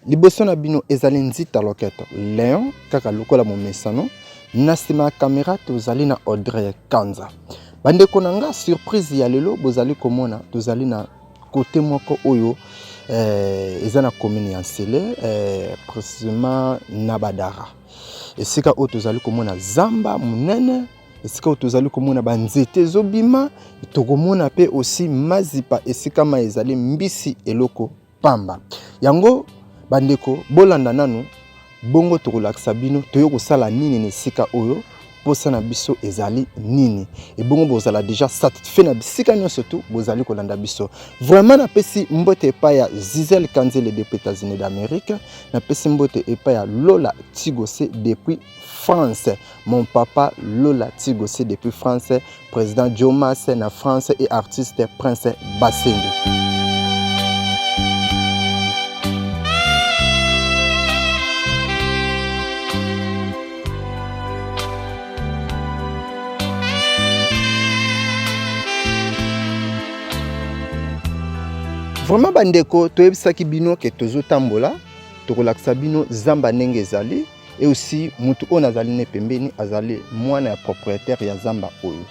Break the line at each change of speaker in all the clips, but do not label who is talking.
liboso na bino ezali nzita loketo leon kaka lokola momesano na nsima ya kamera tozali na audrey kanza bandeko na nga surprise ya lelo bozali komona tozali na Cote moko oyo eh, eza na commune ya Nsele eh, précisément na Badara, esika oyo tozali komona zamba monene esika oyo tozali komona banzete ezobima tokomona mpe osi mazipa esika mai ezali mbisi eloko pamba yango bandeko bolanda nanu Bongo tokolakisa bino toye kosala nini na esika oyo mposa na biso ezali nini ebongo bozala deja satisfait na bisika nyonso tu bozali kolanda biso vraiment napesi mbote epai ya zizel kanzele depuis états-unis d'amérique napesi mbote epai ya lola tigose depuis france Mon papa Lola Tigossi depuis France, président Jomas na France et artiste Prince Bassende. Vraiment bandeko toyebisaki bino ke tozotambola tokolakisa bino zamba ndenge ezali Et aussi, mutu on azali ne pembeni azali mwana ya propriétaire ya zamba oyo.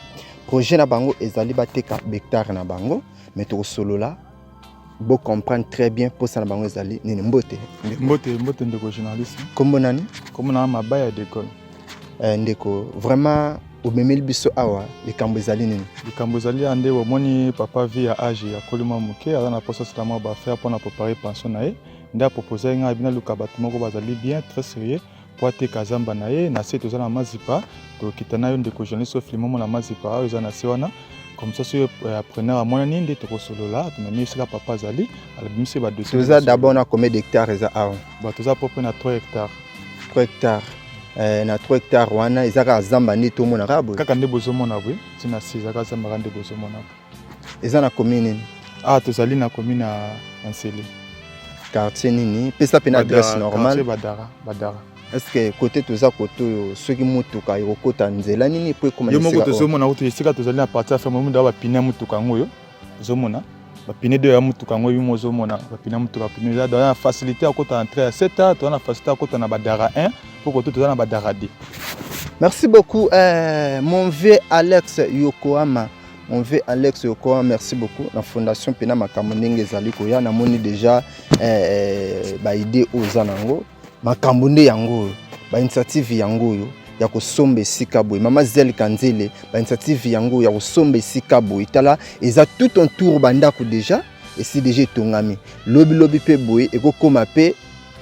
Projet na bango ezali bateka hectare na bango, mais tokosolola bo comprendre très bien posa na bango ezali nini mbote mbote mbote ndeko
journaliste kombo nani
kombo na mabaya
dekol eh, ndeko
vraiment omemeli biso awa likambo ezali nini likambo ezali ya nde
omoni papa vie ya age ya kolima moke aza na posa asala mwa baaffaire mpo na prepare pension na ye nde aproposaki ngai bina luka bato moko bazali bien très serieux mpo ateka zamba na ye na se toza na mazipa tokita na yo ndeko journaliste ofilme omona mazipa oyo eza na se wana comme ça soki euh, appreneur amonani nde tokosolola tomemi esika papa azali alobimisi badossier toza d'abord na combien
d'hectare eza awa ba toza propre na 3
hectare 3 hectare eh,
na 3 hectare wana eza kaka zamba nde tomona kaka boye kaka nde bozomona boye
ntina se eza kaka zamba kaka nde bozomona boye Eza
na commune nini? Ah, tozali na
commune ya Nsele. Quartier
nini? Pesa pe na adresse normale. Badara, Badara.
Est-ce que côté
toza côté oyo soki mutuka ekokota nzela nini po ekoma esika? Yo moko tozomona kutu
esika tozali na partie ya ferme mundo ya bapine ya mutuka yango oyo ozomona bapine de ya mutuka yango bimo ozomona bapine ya mutuka pine eza toza na facilité ya kota entrée ya 7 a toza na facilité ya kota na badara 1 po kote toza na badara 2 Merci
beaucoup, euh, mon vieux Alex Yokohama. Mon vieux Alex Okoa, merci beaucoup. La fondation Pena Makambo ndenge ezali koya namoni déjà eh, eh ba idée oyo eza nango. Makambo nde yango oyo, ba initiative yango oyo ya kosomba esika boye mama zel kanzele ba initiative yango ya kosomba esika boye tala eza tout en tour bandako déjà esi déjà etongami lobilobi mpe boye ekokoma mpe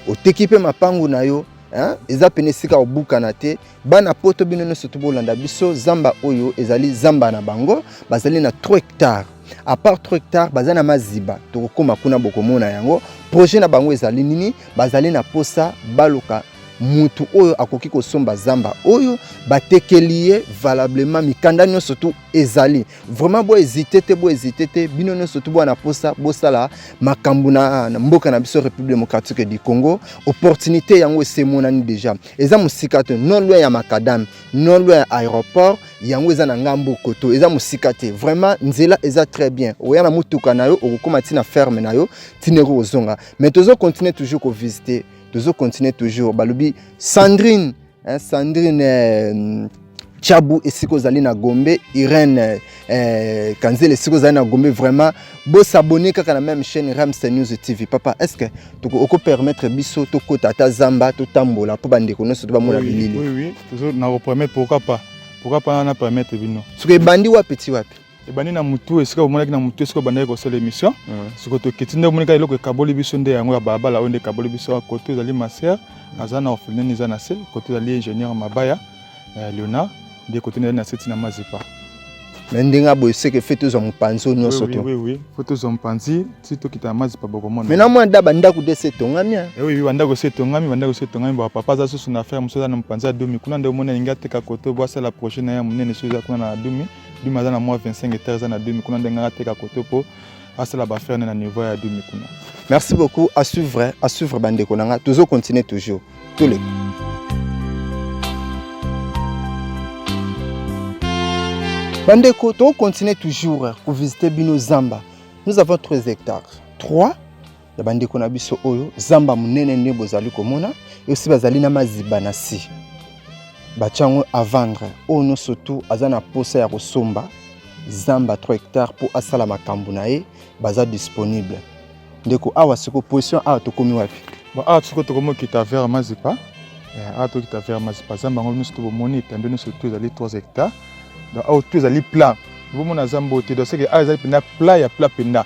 oteki mpe mapango na yo hein? eza pene esika obukana te bana poto bino nyonso to bolanda biso zamba oyo ezali zamba na bango bazali na 3 hectare apart 3 hectare baza na maziba tokokóma kuna bokomona yango projet na bango ezali nini bazali na posa baluka mutu oyo akoki kosomba zamba oyo batekeli ye valablement mikanda nyonso tu ezali vraiment bo hésiter te bo hésiter te bino nyonso to bwana posa bosala makambo na mboka na biso république démocratique du congo opportunité yango esemonani déjà eza mosika te non loin ya macadame non loin ya aéroport yango eza na ngambo koto eza mosika te vraiment nzela eza très bien oya na motuka na yo okokóma ntina ferme na yo ntina eko kozonga mais tozo continuer toujours kovisite tozo continuer toujours balobi sandrine Eh, Sandrine eh, Chabu esiko zali na Gombe, Irène eh, Kanzela esiko zali na Gombe vraiment bo s'abonner kaka na même chaîne Ramsey News TV. Papa, est-ce que tu peux permettre biso to kota ta zamba to tambola po bande ko noso to ba mona bilili. Oui oui, toujours na ko
permettre pourquoi pas? Pourquoi pas na permettre bino? Soki bandi wapi ti
wapi? ebandi na mutu
esika omonaki na mutu esika obandaki kosala émission siko tokiti nde omonaka eloko ekaboli biso nde yango ya balabala oyo nde ekaboli biso kote ezali maser aza na orpheline eza na se kote ezali ingénieur mabaya eh, leonard nde kote ezali na se ntina mazipa me ndenge
aboye seke fe tozwa mopanzi oyo nyonso to fo tozwa mopanzi
ti tokita na mazipa bokomona me na mwa da
bandako
de
se etongami eh? eh oui bandako se
etongami bandako se etongami ba papa aza susu na affaire mosusu aza na mopanzi ya dumi kuna nde omoni alingi ateka koto bo asala projet na ye ya monene soki eza kuna na dumi dumi aza na mwa 25 hectare eza na dumi kuna ndenge nga ateka koto mpo asala bafere ne na niveau ya dumi kuna merci beaucoup à
suivre à suivre bandeko na nga tozo continuer toujours tous les bandeko tokocontinue toujours kovisite bino zamba nous avons 3 hectares 3 ya bandeko na biso oyo zamba monene nde bozali komona yosi bazali na maziba na si batya yango avandre oyo nyonso tu aza na mposa ya kosomba zamba 3 hectare mpo asala makambo na ye baza disponible ndeko awa siko position awa tokomi wapi awa siko tokomi
okita vers mazipa eh, awa tokita vers mazipa zamba yango nyonso tu bomoni etando nyonso tu ezali 3 hectare donc awa tu ezali plat bomona zamba oyo te donc seke awa ezali mpenza plat ya plat mpenza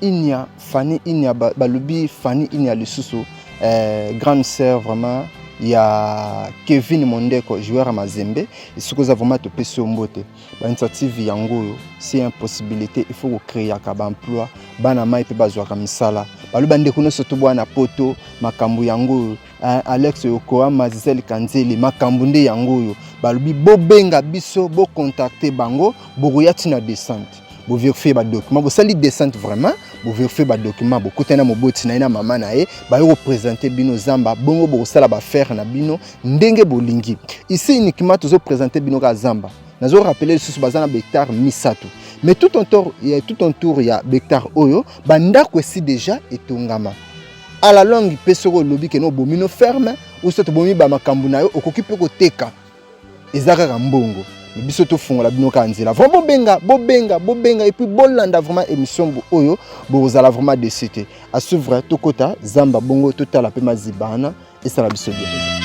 Inya Fanny Inya balobi Fanny Inya lisusu eh, grande sœur vraiment ya Kevin Mondeko joueur ya Mazembe esiko oza vraiment topesi yo mbote ba initiative yango oyo c'est une possibilité il faut ko créer ka ba emploi bana mai pe bazwaka misala baloba ndeko nyonso to bwana poto makambo yango oyo Alex Yokohama Gisèle Kanzeli makambo nde yango oyo balobi bobenga biso bokontakte bango bokoya ntina descente bo vérifier ba documents bosali descente vraiment bo vérifier ba documents bokutani na moboti na ye na mama na ye baye kopresente bino zamba bongo bokosala baaffaire na bino ndenge bolingi ici uniquement tozo presente bino kaka zamba nazo rappeler lisusu baza na behectare misato mais tout en tour ya tout en tour ya behectare oyo bandako esi déjà etongama à la longue mpe soki olobi kena obomi no ferme ou soit obomi bamakambo na yo okoki mpe koteka eza kaka mbongo mais biso tofungola bino kaka nzela vraiment bobenga bobenga bobenga epuis bolanda vraiment émission oyo bokozala vraiment desi te à suivre tokota zamba bongo totala mpe maziba wana esala biso bien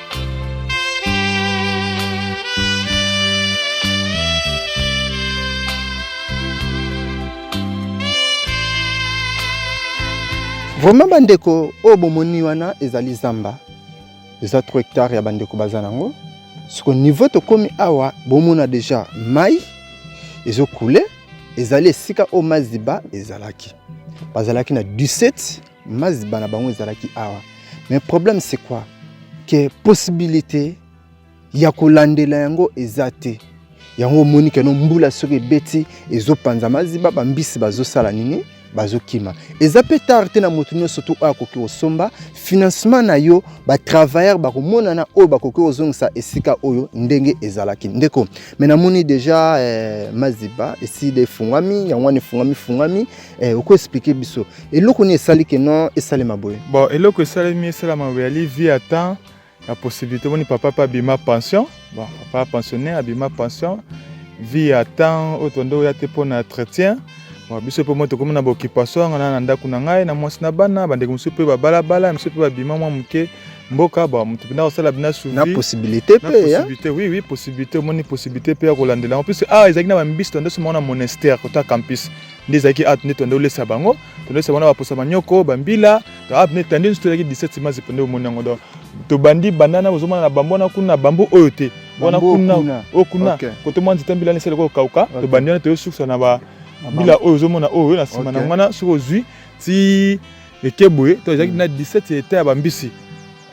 vraiment bandeko oyo bomoni wana ezali zamba eza 3 hectare ya bandeko baza nango soko niveau tokomi awa bomona deja mai ezokule ezali esika oyo maziba ezalaki bazalaki na 17 maziba na bango ezalaki awa mais problème c'est quoi que possibilité ya kolandela yango eza te yango omoni keno mbula soki ebeti ezopanza maziba bambisi bazosala nini bazokima eza mpe tard te na moto nyonso tu oyo akoki kosomba financement na yo batravailleur bakomonana oyo bakoki kozongisa esika oyo ndenge ezalaki ndeko me namoni deja eh, maziba esili efungwami yango wana efungwami fungwami Eh, oko expliquer biso eloko nini esali ke non esalema boye bon eloko esalemi
esalama boye ali vie ya temps ya possibilité omoni papa mpe abima pension bon papa pensionnaire abima pension vie ya temps oyo tonde oya te mpo na entretien bon biso mpe moi tokomi na baoccupation yanga na na ndako na ngai na mwasi na bana bandeko mosusu mpe babalabala mosusu mpe babima mwa moke mboka ba moto mpenza kosala bina na possibilité mpe
possibilité oui oui possibilité
omoni possibilité mpe ya kolandela yango puisque awa ezalaki na bambisto nde somongo na monastère kota campus nde ezalaki awa nde tondaki olesa bango tondaki olesa bango na baposa manyoko bambila awa nde tande nso tozalaki 17 mazi mpo nde omoni yango donc tobandi bandana bozomona na bambo wana kuna bambo oyo te wana kuna oyo kuna kote mwa nzete mbila nesali kokauka tobandi wana toyosukisa na bambila oyo ozomona oyo na nsima na wana soki ozwi ti eke boye to ezalaki na 17 eta ya bambisi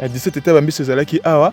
ya 17 eta ya bambisi ezalaki awa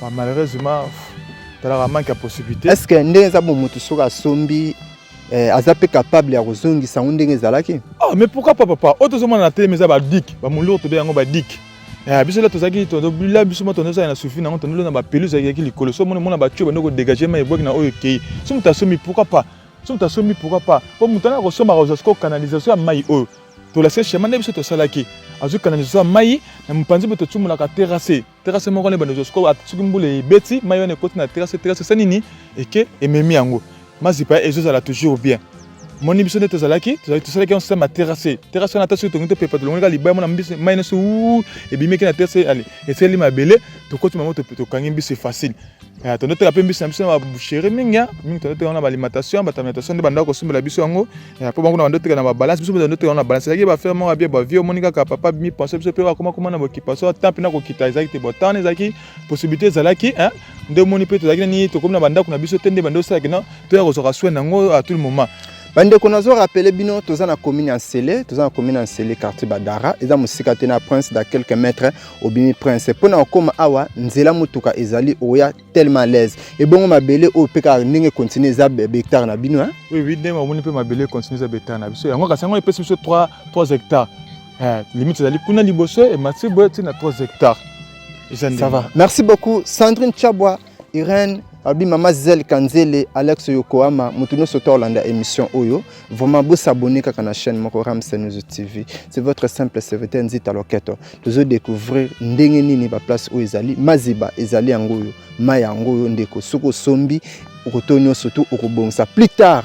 Ma malheureusement talaka manque ya possibilité. Est-ce que ndenge eza bomoto
soki asombi eh, aza mpe capable ya kozongisa yango ndenge ezalaki?
Ah mais pourquoi pas papa? Oyo tozomona na teleme eza ba dik, ba mulur tobe yango ba dik. Eh, biso la tozalaki tobila biso moto nozala na sufi nango tondolo na bapeluse ayaki likolo so mona mona batio bando kodegage ma ebwaki na oyo ekei so moto asombi pourquoi pas so moto asombi pourquoi pas mpo moto ana kosomba akozwa siko canalisation ya mai oyo tolasika shema nde biso tosalaki azwi canalisation ya mai na mopanzi mpe totumolaka terrasse terase moko na ebanda ozwa sikoyo soki mbula ebeti mai wana ekoti na terase terase esa nini eke ememi yango mazipa ezozala toujours bien moni biso nde tozalaki tosalaki yango sema terase terase wana ata soki tongi topepa tolongolaka libaya mona mai nyonso ebimeki na terase ale esaleli mabele tokoti mango tokangi mbisi facile Eh, tondo teka mpe mbisi na biso na baboucherie mingi mingi tondo teka na baalimentation bato alimentation nde bandako kosombela biso yango mpo eh, bango na bando teka na babalance biso mpe tondo teka na babalance ezalaki bafere moko abie bavie omoni kaka papa bimi pense biso mpe bakoma koma na bokipaso ata mpe na kokita ezalaki te botan ezalaki possibilité ezalaki eh, nde omoni mpe tozalaki nani tokomi na bandako na biso te nde bando osalaki na toya kozwaka soin na yango à tout le moment bandeko nazo
rappeler bino toza na commune ya nsele toza na commune ya nsele quartier badara eza mosika te na prince da quelques mètres obimi prince mpo na kokoma awa nzela motuka ezali oya tellement alaise ebongo mabele oyo mpe kaka ndenge continue eza hectare na bino oui ndenge omoni mpe
mabele continue eza hectare na biso yango kasi yango epesi biso 3 hectare eh, limite ezali kuna liboso emati boye ntina 3 hectare ça va
merci beaucoup sandrine chabwa Irène abi mama Zel Kanzele Alex Yokohama mutu nyonso to olanda émission oyo vraiment bo s'abonner kaka na chaîne moko Ramsey News TV c'est votre simple serviteur Nzita Loketo tozo découvrir ndenge nini ba place oyo ezali maziba ezali yango oyo mai yango oyo ndeko soki osombi okoto nyonso tu okobongisa plus tard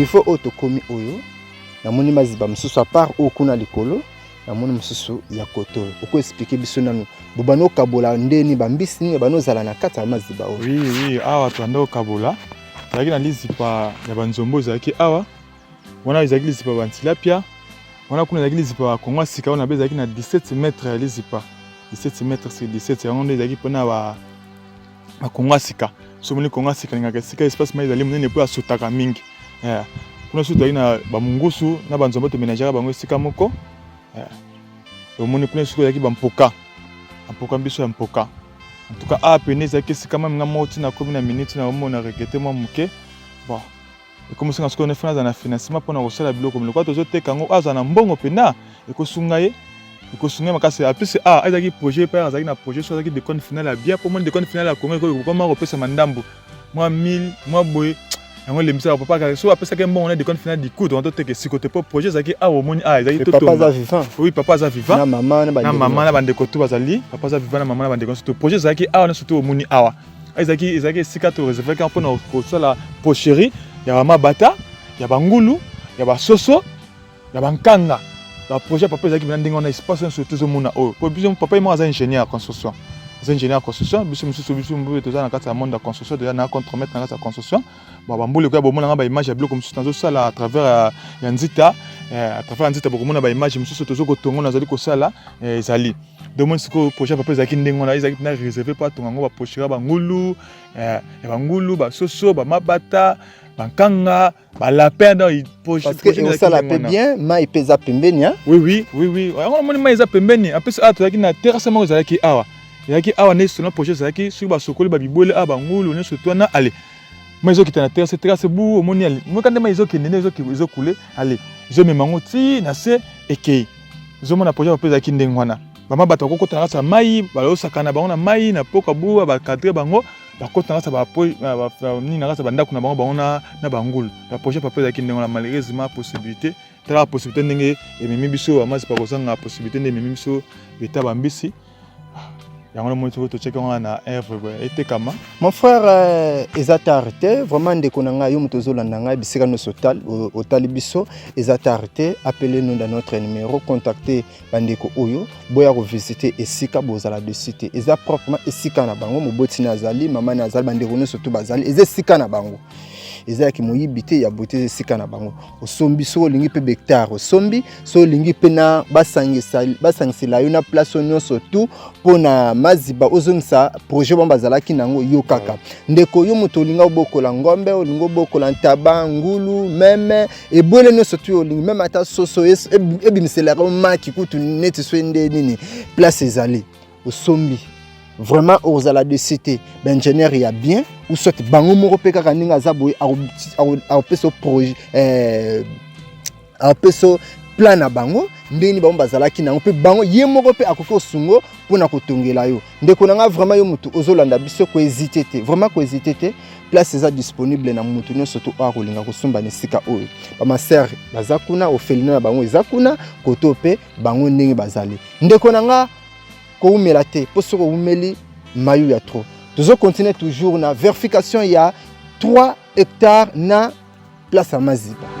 niveau oyo tokomi oyo namoni maziba mosusu apart oyo kuna likolo namoni mosusu ya koto oyo okoexplike biso nanu bobanda okabola ndeni bambisi nini banda ozala na kati ya maziba oyo oui, oui, awa tobanda
okabola ezalaki na lizipa ya banzombo ezalaki awa wana ezalaki lizipa bantilapia wana kuna ezalaki lizipa ya kongo ya sika wana mpe ezalaki na 17 mètre ya lizipa 17 mètre sur 17 yango nde ezalaki mpona bakongo ya sika so omoni kongo ya sika alingaka esika espace mai ezali monene mpo asutaka mingi eh, kuna susu tozali na bamungusu na banzombo tomenajaka bango esika moko eh, omoni kuna suku ezalaki bampoka bampoka biso ya mpoka en tout cas awa pene ezalaki esika mami nga moko ntina akomi na miniti na omona regete mwa moke bon ekomisinga sikoyo nefana azala na financement mpona kosala biloko miloko tozoteka yango azala na mbongo mpena ekosunga ye ekosunga ye makasi ya plus a azalaki projet mpe azalaki na projet so azalaki decone final ya bia mpo moni decone final ya congo ekokoma kopesama ndambo mwa 1000 mwa boye yango elembisaka papa kaka soki apesaki mbongo na decone final dikutu wana toteka esiko te mpo projet ezalaki awa ah, omoni awa ah, ezalaki
oui papa aza vivant na
mama
na bandeko to
bazali papa aza vivant na mama na bandeko nyonso to projet ezalaki awa ah, nyonso to omoni awa ezalaki ezalaki esika to reservaki mpo na kosala pocherie ya bamabata ya bangulu ya basoso ya bankanga baprojet ya papa ezalaki mpena ndenge wana espace nyonso tozomona oyo mpo biso papa ye moko aza ingénieur ya construction aza ingénieur ya construction biso mosusu biso mboyo toza na kati ya monde ya construction toza na contremaître na kati ya construction bon bambula ekoya bomona nga baimage ya biloko mosusu nazosala à travers ya, ya nzita eh, à travers ya nzita bokomona baimage mosusu tozo kotongo nazali kosala eh, ezali donc moi sikoyo projet ya papa ezalaki ndenge wana ezalaki mpena réserve mpo atonga yango baprochera bangulu eh, ya bangulu basoso bamabata bankanga balapin osala
mpe bien mai mpe eza pembeni oui oui oui oui
yango namoni mai eza pembeni en plus awa tozalaki na terrasse moko ezalaki awa ezalaki awa nde sona projet ezalaki soki basokoli babibwele awa bangulu nyonso to wana ale mai ezokita na terrasse terrasse bu omoni ale moka nde mai ezokende nde ezokule ale ezomema yango ti na se ekei zomona projet mpe ezalaki ndenge wana bama bato bakokota na kati ya mai balosaka na bango na mai na poka bua bakadre bango bakota na kati ya nini na kati ya bandako na bango bango na bangulu na projet papa ezalaki ndenge wana malheureusement possibilité talaka possibilité ndenge ememi biso bamazipa kozanga possibilité nde ememi biso leta bambisi yango na moni soki totyaki yango na
œuvre boye etekama mon frère euh, eza tard te vraiment ndeko na ngai yo moto ozolanda ngai bisika nyonso otali biso eza tard te appele nous dans notre numéro contacte bandeko oyo boya kovisite esika bozala de site eza proprement esika na bango moboti na azali mama na azali bandeko nyonso to bazali eza esika na bango eza ya kimoyibi te ya bote eza esika na bango osombi soki olingi mpe bectare osombi soki olingi mpe na basangisela yo na place oyo nyonso tu mpo na maziba ozongisa projet bango bazalaki nango yo kaka ndeko yo moto olingi obokola ngombe olingi obokola ntaba ngulu meme ebwele nyonso tu olingi meme ata soso ebimisela yango maki kutu neti soki nde nini place ezali osombi vraiment okozala de cete baingénieur ya bien ou soit bango moko mpe kaka ndenge aza boye akopesa projet eh, akopesa plan na bango ndenge nini bango bazalaki nango mpe bango ye moko mpe akoki osungo mpo na kotongela yo ndeko na ngai vraiment yo motu ozolanda biso koezite te vraiment koezite te place eza disponible na motu nyonso to oyo akolinga kosomba na esika oyo bamaser baza kuna ofelina na bango eza kuna koto mpe bango ndenge bazali ndeko na nga koumela te mpo soki oumeli mayu ya trop tozo continuer toujours na verification ya 3 hectare na place ya maziba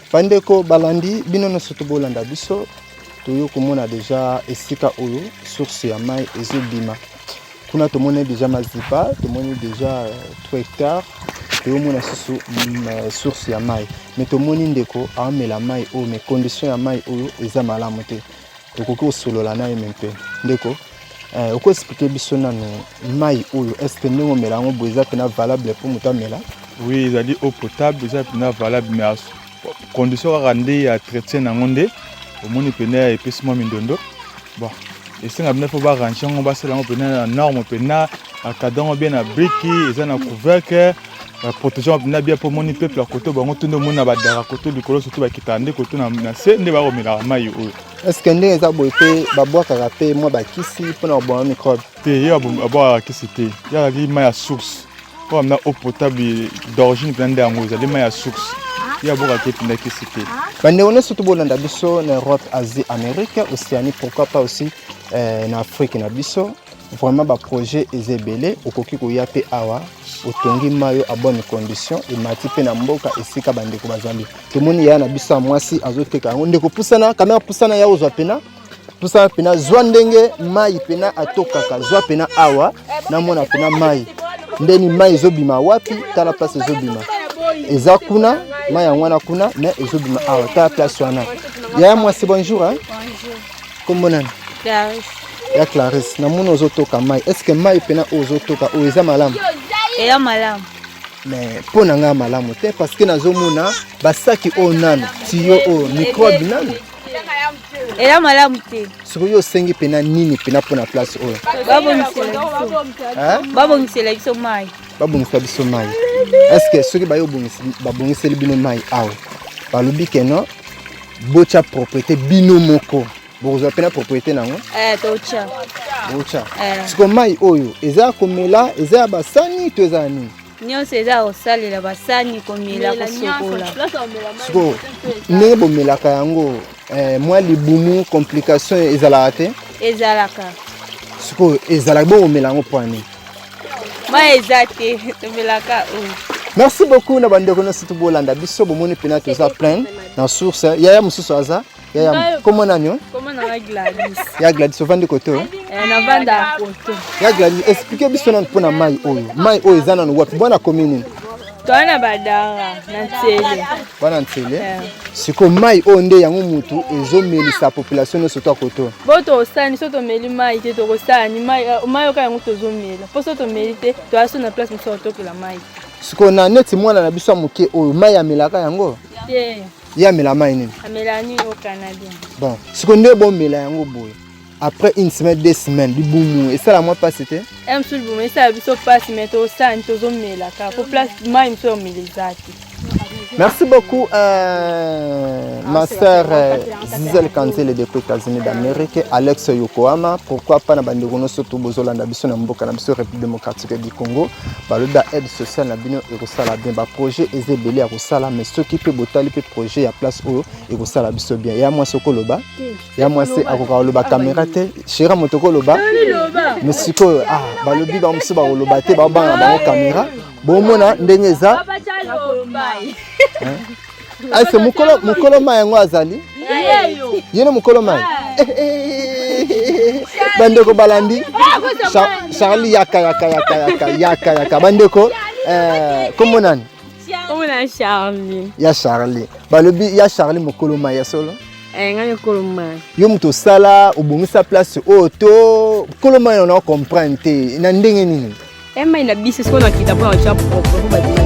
Bandeko balandi bino nyonso to bolanda biso toyo komona deja esika oyo source ya mai ezobima kuna tomoni deja mazipa tomoni deja 3 hectare toyomona susu mm, eh, source ya mai me tomoni ndeko aomela mai oyo me condition ya mai oyo eza malamu te tokoki kosolola na ye me mpe ndeko eh, oko explike biso nano mai oyo estce ndenge omela yango boye eza mpena valable mpo moto amela oui ezali
eau potable eza mpena valable mais condition kaka nde ya traitien na yango nde omoni mpena epesi mwa mindondo bon esenga mpena mpo barange yango basala yango mpena na norme mpena akada yango bien na briki eza na couvercle ba protection na bia po moni peuple ya koto bango tunde moni na badara koto likolo surtout bakitaka nde koto na, na se nde bakomelaka mai oyo est-ce que ndenge eza
boye mpe babwakaka mpe mwa bakisi mpo na koboma microbe te ye abwakaka
kisi te ye azali mai ya source oyo amina eau potable d'origine mpenza nde yango ezali mai ya source ye abwakaka te mpenza kisi te bandeko nyonso to
bolanda biso na europe asie amérique océanie pourquoi pas aussi euh, na afrique na biso Vraiment ba projet eza ebele, okoki koya pe awa otongi mayo a bonne condition emati pe na mboka esika bandeko bazali. Tomoni yaya na biso ya mwasi azoteka yango, ndeko pusana kamera, pusana ya ozwa pena pusana pena, zwa ndenge mai pena atokaka, zwa pena awa namona pena mai ndeni mai ezobima wapi, tala place ezobima eza kuna mai yango wana kuna, mais ezobima awa, tala place wana. Yaya mwasi bonjour hein?
Kombo nani?
Clarisse.
Ya Clarisse,
na mona ozotoka mai. Est-ce que mai pena ozotoka oyo eza malamu? Eya malamu.
Mais mpo
na ngai malamu te parce que nazomona basaki oyo nanu tiyo oyo microbe nanu
eya malamu te soki yo osengi mpena
nini mpena mpo na place oyo
babongisela biso mai babongisela biso mai
estce soki baye babongiseli bino mai awa balobi ke non Bocha propriété bino moko. Bokozwa pena propriété nango? Eh, tocha.
Bocha.
Eh. Siko mai oyo eza komela, eza ya basani to eza nini? nyonso eza ya
kosalela basani komela kosokola
sikoyo ndenge bomelaka yango eh, mwa libumu complication ezalaka te ezalaka
sikoyo
ezalaka bokomela yango mpo ya nini Mai
eza te tomelaka oyo. Merci beaucoup
na bandeko nyonso tobolanda biso bomoni mpena toza plein na source yaya mosusu aza yaya komo nani
ya gladis ovandi
koto eh,
ya gladis explike
biso nani mpo na mai oyo mai oyo eza nano wapi bwana komi nini toa na
badara na nsele bana nsele
eh. sikoyo mai oyo nde yango motu ezomelisa population nyonso to akoto bo tosani so
tomeli mai te tokosani mai eh, oka yango tozomela mpo so tomeli te toya so na place mosusu akotokela mai sikoyo na neti
mwana na biso ya moke oyo mai amelaka yango te ye amela mai nini amela nini au
canadien bon sikoyo nde
bomela yango boye après une semaine deux semaines libumu esala mwa mpasi te eh, mosusu libumu esala
biso mpasi mais tosani tozomelaka po place mai mosusu ya omela eza te Merci
beaucoup, euh, ma sœur euh, Zizel Kanzele depuis États-Unis d'Amérique, Alex Yokohama. Pourquoi pas na bande gono surtout bozola na biso na mboka na biso République démocratique du Congo. Baloba aide sociale na bino et kosala bien ba projet eze belé ya kosala mais ceux qui peut botali peut projet ya place oyo et kosala biso bien. Ya moi sokoloba. ya mwasi akoka koloba kamera te shera moto koloba me sikoyo ah, balobi bango mosusu bakoloba te baobanga na bango kamera bomona ndenge eza ase mokolo mai yango azali ye na mokolo mai eh, eh, eh, bandeko balandi charli yaka yaka yaka yaka yaka yaka bandeko komonani omona charli
ya charli
balobi ya charli mokolo mai ya solo eh, ngai mokolo
mai yo moto osala
obongisa place oyo to mokolo mai ona
ocomprendre
te
na
ndenge
nini
emai
eh, na
biso
sikoyo
nakita
mpo na otya
propre
mpo badima